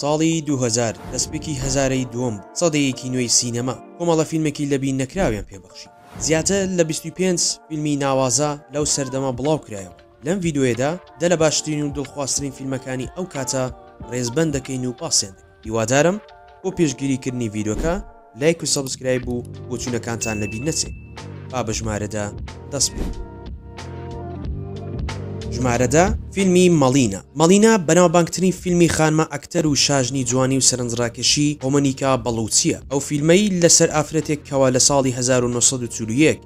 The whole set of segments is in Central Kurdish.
ساڵی دوو هەزار دەستپێکی هەزارەی دووەم بوو، سەدەیەکی نوێی سینەما کۆمەڵە فیلمێکی لەبیر نەکراویان پێ بەخشی. زیاتر لە بیست و پێنج فیلمی ناوازە لەو سەردەمە بڵاو کرایەوە، لەم ڤیدیۆیەدا دە لە باشترین و دڵخوازترین فیلمەکانی ئەو کاتە ڕێزبەند دەکەین و باسیان دەکەین. هیوادارم بۆ پێشگیری کردنی ڤیدۆکە لایک و سەبسکرایب و بۆچونەکانتان لەبیر نەچێ با بە ژمارە دە دەست پێ ژمارە دە فیلمی مەڵینە مەڵینە بەناوبانگترین فیلمی خانمە ئەکتەر و شاژنی جوانی و سەرنجڕاکێشی هۆمەنیکا بەڵوچیە ئەو فیلمەی لەسەر ئافرەتێک کەوا لە ساڵی 1940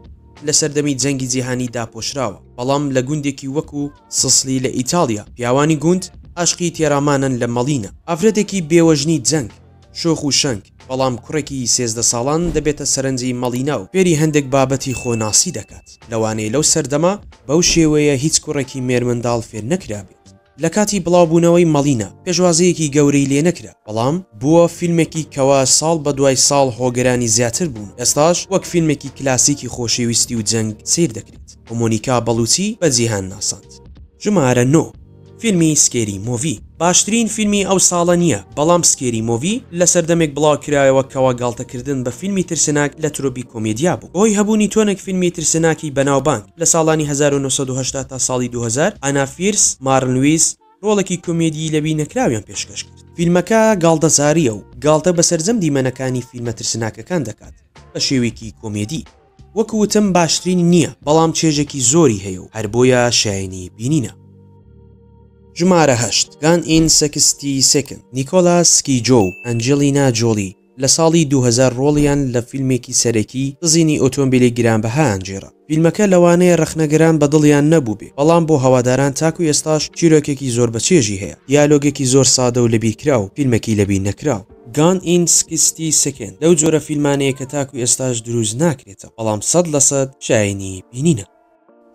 لە سەردەمی جەنگی جیهانی داپۆشراوە بەڵام لە گوندێکی وەکو سسلی لە ئیتاڵیا پیاوانی گوند ئاشقی تێرامانەن لە مەڵینا ئافرەتێکی بێوەژنی جەنگ شۆخ و شەنگ بەڵام کوڕێکی سێزدە ساڵان دەبێتە سەرنجی مەڵینا و فێری هەندێک بابەتی خۆ ناسی دەکات لەوانەیە لەو سەردەمە بەو شێوەیە هیچ کوڕێکی مێرمنداڵ فێر نەکرابێت لە کاتی بڵاو بوونەوەی مەڵینا پێشوازیەکی گەورەی لێ نەکرا بەڵام بووە فیلمێکی کەوا ساڵ بە دوای ساڵ هۆگرانی زیاتر بوون و ئێستاش وەک فیلمێکی کلاسیکی خۆشێویستی و جەنگ سەیر دەکرێت. و مۆنیکا بەڵوچی بە جیهان ناساند. ژمارە نۆ، فیلمی سکێری مۆڤی باشترین فیلمی ئەو ساڵە نییە، بەڵام سکێری مۆڤی لە سەردەمێک بڵاوکرایەوە کەوا گاڵتەکردن بە فیلمی ترسناک لە ترۆپی کۆمێدیا بوو هۆی هەبوونی تۆنێک فیلمی ترسناکی بەناوبانگ لە ساڵانی هەزار و نۆ سەد و هەشتا تا ساڵی دوو هەزار ئانا فیرس مارن لویس ڕۆڵێکی کۆمێدیی لەبیر نەکراویان پێشکەش کرد. فیلمەکە گاڵتەجارییە و گاڵتە بە سەرجەم دیمەنەکانی فیلمە ترسناکەکان دەکات بە شێوەیەکی کۆمێدی. وەک وتم باشترین نیە بەڵام چێژێکی زۆری هەیە و هەر بۆیە شایەنی بینینە. ژمارە هەشت، گان ئین سکستی سیکند، نیکۆلاس کیجۆ و ئەنجلینا جۆلی لە ساڵی دوو هەزار ڕۆڵیان لە فیلمێکی سەرەکی دزینی ئۆتۆمبیلی گرانبەها ئەنجێرا. فیلمەکە لەوانەیە ڕەخنەگران بە دڵیان نەبووبێ بەڵام بۆ هەواداران تاکو ئێستاش چیرۆکێکی زۆر بەچێژی هەیە، دیالۆگێکی زۆر سادە و لەبیرکراو، فیلمێکی لەبیرنەکراو. Gone in Sixty Seconds لەو جۆرە فیلمانەیە کە تاکو ئێستاش دروست ناکرێتە بەڵام سەد لە سەد شایەنی بینینە.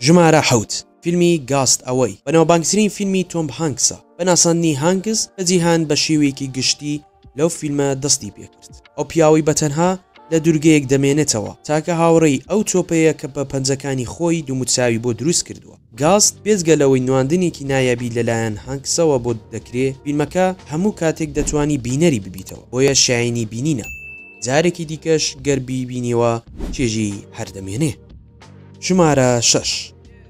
ژمارە حەوت، فیلمی گاست ئەوەی بەناوبانگترین فیلمی تۆم هانکسە، بە ناساندنی هانکس بە جیهان بە شێوەیەکی گشتی لەو فیلمە دەستی پێکرد، ئەو پیاوەی بە تەنها لە دوورگەیەک دەمێنێتەوە تاکە هاوڕێی ئەو تۆپەیە کە بە پەنجەکانی خۆی دوموچاوی بۆ دروست کردووە. گاست، بێجگە لەوەی نواندنێکی نایابی لەلایەن هانکسەوە بۆت دەکرێ، فیلمەکە هەموو کاتێک دەتوانی بینەری ببیتەوە، بۆیە شایەنی بینینە، جارێکی دیکەش گەر بیبینیەوە چێژی هەر دەمێنێ. ژمارە شەش،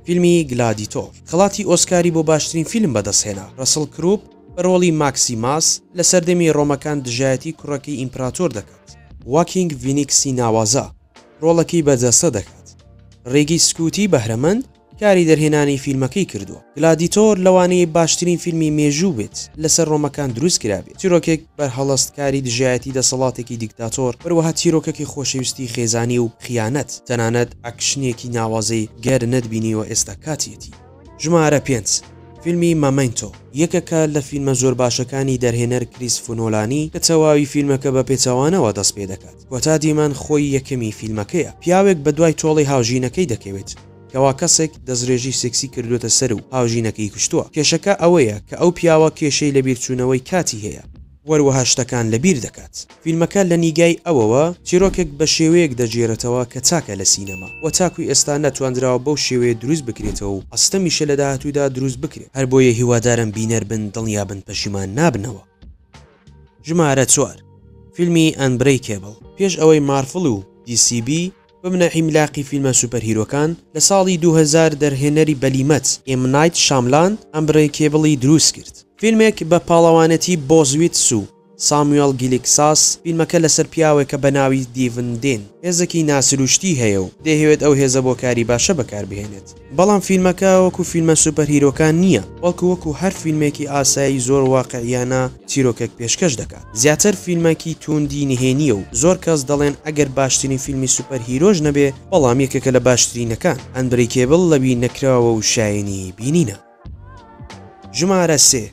فیلمی گلادیتۆر، خەڵاتی ئۆسکاری بۆ باشترین فیلم بەدەستهێنا، ڕەسڵ کروپ بە ڕۆڵی ماکسیماس لە سەردەمی ڕۆمەکان دژایەتی کوڕەکەی ئیمپراتۆر دەکات، واکینگ فینیکسی ناوازە، ڕۆڵەکەی بەرجەستە دەکات. ڕیگی سکوتی بەهرەمەند کاری دەرهێنانی فیلمەکەی کردووە. گلادیتۆر لەوانەیە باشترین فیلمی مێژوو بێت لەسەر ڕۆمەکان دروست کرابێت. چیرۆکێک بەرهەڵست کاری دژایەتی دەسەڵاتێکی دیکتاتۆر، هەروەها چیرۆکەکی خۆشەویستی خێزانی و خیانەت. تەنانەت ئەکشنێکی ناوازەی گەر نەتبینیوە ئێستا کاتیەتی. ژمارە پێنج، فیلمی مەمەنتۆ، یەکێکە لە فیلمە زۆر باشەکانی دەرهێنەر کریسفونۆلانی کە تەواوی فیلمەکە بە پێچەوانەوە دەست پێدەکات. وەتا دیمان خۆی یەکەمی فیلمەکەیە پیاوێک بەدوای تۆڵەی هاوژینەکەی دەکەوێت کەوا کەسێک دەستڕێژی سێکسی کردووەتە سەر و هاوژینەکەی کوشتووە کێشەکە ئەوەیە کە ئەو پیاوە کێشەی لە بیرچوونەوەی کاتی هەیە وەروەها شتەکان لە بیر دەکات. فیلمەکە لە نیگای ئەوەوە چیرۆکێک بە شێوەیەک دەگێرێتەوە کە تاکە لە سینەما وە تاکوی ئێستا نەتواندراوە بەو شێوەیە دروست بکرێتەوە و ئەستەمیشە لە داهاتوودا دروست بکرێت هەر بۆیە هیوادارم بینەر بن دڵنیا بن پەشیمان نابنەوە. ژمارە چوار، فیلمی ئەنبرەیکێبڵ، پێش ئەوەی مارفڵ و دی سی بی ببنە عیملاقی فیلمە سوپەرهیرۆکان، لە ساڵی دوو هەزار دەرهێنەری بلیمەت، ئێم نایت شاملان، ئەنبرەیکێبڵی دروست کرد. فیلمێک بە پاڵەوانێتی بۆز ویتس و ساموێڵ گیلیکساس، فیلمەکە لەسەر پیاوێکە بە ناوی دیڤن دێن، هێزەکی ناسروشتی هەیە و دەیهەوێت ئەو هێزە بۆ کاری باشە بەکاربهێنێت. بەڵام فیلمەکە وەکو فیلمە سوپەر هیرۆکان نییە، بەڵکو وەکو هەر فیلمێکی ئاسایی زۆر واقعییانە چیرۆکێک پێشکەش دەکات. زیاتر فیلمەکی تووندی نهێنییە و زۆر کەس دەڵێن ئەگەر باشترین فیلمی سوپەر هیرۆش نەبێ بەڵام یەکێکە لە باشترینەکان، ئەنبرەیکێبڵ لەوی نەکراوە و شایەنی بینینە. ژمارە سێ،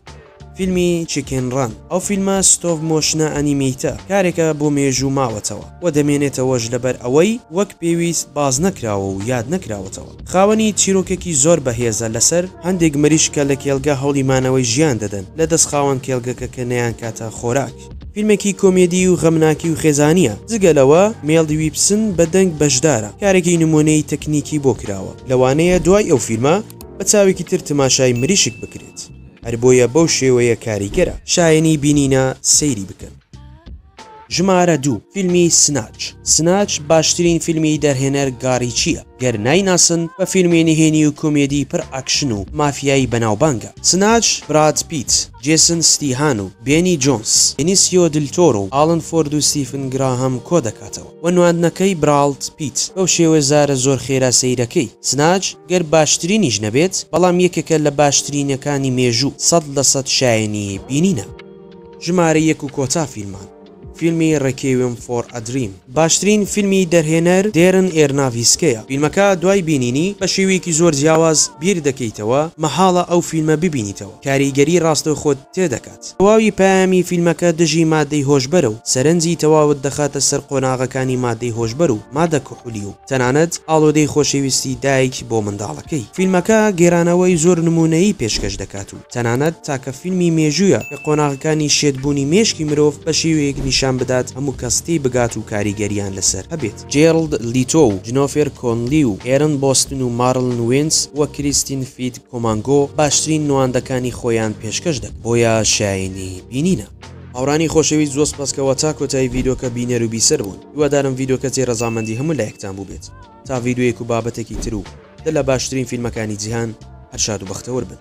فیلمی، چیکن ڕەن، ئەو فیلمە ستۆڤ مۆشنە ئەنیمیتە، کارێکە بۆ مێژوو ماوەتەوە و دەمێنێتەوەش لەبەر ئەوەی وەک پێویست باس نەکراوە و یاد نەکراوەتەوە. خاوەنی چیرۆکێکی زۆر بەهێزە لەسەر هەندێک مریشکە لە کێلگە هەوڵی مانەوەی ژیان دەدەن لە دەست خاوەن کێلگەکە کە نەیانکاتە خۆراک. فیلمێکی کۆمێدی و غەمناکی و خێزانییە. جگە لەوە مێڵ دیویپسن بە دەنگ بەشدارە، کارێکی نموونەیی تەکنیکی بۆ کراوە. لەوانەیە دوای ئەو فیلمە، بە چاوێکی تر تماشای مریشک بکرێت هەر بۆیە بەو شێوەیە کاریگەرە. شایەنی بینینە سەیری بکەن. ژمارە دوو، فیلمی سناچ سناچ باشترین فیلمی دەرهێنەر گا ریچییە گەر نایناسن بە فیلمی نهێنی و کۆمێدی پڕ ئاکشن و مافیایی بەناوبانگە سناچ براد پیت جێسن ستیهان و بێنی جۆنس بینیسیۆ دل تۆرۆ و ئاڵن فۆرد و ستیفن گراهام کۆدەکاتەوە. وە نواندنەکەی براڵد پیت بەو شێوە زارە زۆر خێرا سەیرەکەی. سناج گەر باشترینیش نەبێت بەڵام یەکێکە لە باشترینەکانی مێژوو سەد لە سەد شایەنی بینینە. ژمارە یەک و کۆتا فیلمان. فیلمی ڕێکیوێم فۆر ئە دریم باشترین فیلمی دەرهێنەر دێرن ئێرناڤیسکەیە فیلمەکە دوای بینینی بە شێوەیەکی زۆر جیاواز بیر دەکەیتەوە مەحاڵە ئەو فیلمە ببینیتەوە کاریگەری ڕاستەوخۆت تێدەکات. دەکات. تەواوی پەیامی فیلمەکە دژی مادەی هۆشبەرە و سەرنجی تەواوت دەخاتە سەر قۆناغەکانی مادەی هۆشبەر و مادە کحولی و تەنانەت ئاڵۆدەی خۆشەویستی دایک بۆ منداڵەکەی. فیلمەکە گێرانەوەی زۆر نموونەیی پێشکەش دەکات و تەنانەت تاکە فیلمی مێژوویە کە قۆناغەکانی شێتبوونی مێشکی مرۆڤ بە شێوەیەک نیشان بدات هەموو کەس تێی بگات و کاریگەرییان لەسەر هەبێت. جێرڵد لیتۆ و جنۆفێر کۆنلی و ئێرن بۆستن و مارلن وێنس و کریستین فیت کۆمانگۆ باشترین نواندەکانی خۆیان پێشکەش دەکەن بۆیە شایەنی بینینە. هاورانی خۆشەویست زۆ سپاس کەوە تا کۆتایی ڤیدۆکە بینەرو بیسەر بوون هیوادارم ڤیدۆکە جێ رەزامەندی هەموو لایەکتان بوبێت تا ڤیدۆیەک و بابەتەکی تر و دە لە باشترین فیلمەکانی جیهان هەر شاد و بەختەوەر بن.